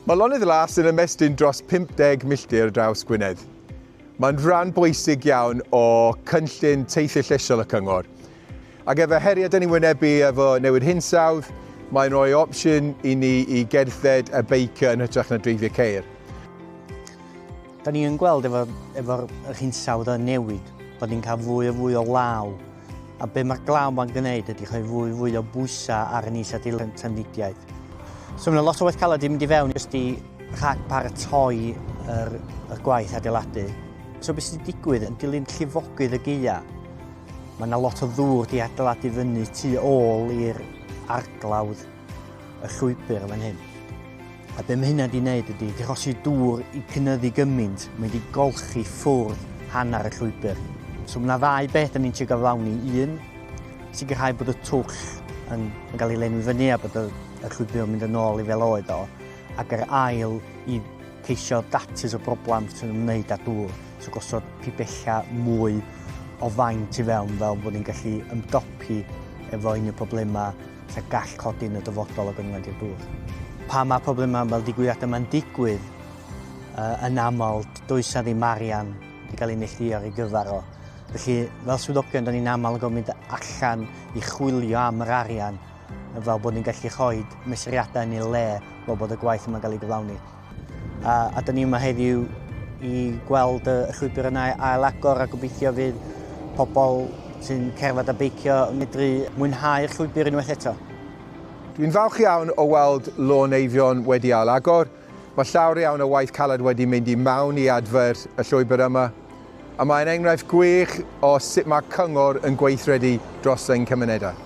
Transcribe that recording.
Mae Lonydd Las yn ymestyn dros 50 milltir draws Gwynedd. Mae'n rhan bwysig iawn o cynllun teithio llesiol y cyngor. Ac efo heriau dyn ni'n wynebu efo newid hinsawdd, mae'n rhoi opsiwn i ni i gerdded a beicio yn hytrach na dreifio ceir. Da ni yn gweld efo'r efo yr hinsawdd yn newid, bod ni'n cael fwy a fwy o law. A be mae'r glaw ma'n gwneud ydy rhoi fwy fwy o bwysau ar yn is a dilyn trafnidiaeth. So mae yna lot o waith caled i mynd i fewn jyst i rhag paratoi yr, yr gwaith adeiladu. So beth sy'n digwydd yn dilyn llifogydd y geia? Mae yna lot o ddŵr di adeiladu fyny tu ôl i'r arglawdd y llwybr fan hyn. A be mae hynna wedi gwneud ydy drosi dŵr i cynyddu gymaint, mae wedi golchi ffwrdd hanner y llwybr. So mae yna ddau beth yn ni'n trio gyflawni. Un, sicrhau bod y twll yn, yn cael ei lenwi fyny a bod y, y llwybr yn mynd yn ôl i fel oed o. Ac yr ail, i ceisio datus o broblem sy'n ymwneud â dŵr. So gosod pibella mwy o faint i fewn fel bod ni'n gallu ymdopi efo un o'r problemau lle gall codi yn y dyfodol o gynwent i'r dŵr. Pa mae problemau fel digwyddiad yma'n digwydd, uh, yn aml, does na ddim arian wedi cael ei neillio ar ei gyfer o. Felly, fel swyddogion, da ni'n aml yn gofyn allan i chwilio am yr arian fel bod ni'n gallu rhoi mesuriadau yn ei le fel bod y gwaith yma'n cael ei gyflawni. A, a dyn ni yma heddiw i gweld y llwybr yna ail agor a gobeithio fydd pobl sy'n cerdded a beicio yn medru mwynhau'r llwybr unwaith eto. Dwi'n falch iawn o weld Lôn Eifion wedi ail agor. Mae llawer iawn o waith caled wedi mynd i mewn i adfer y llwybr yma, a mae'n enghraifft gwych o sut mae cyngor yn gweithredu dros ein cymunedau.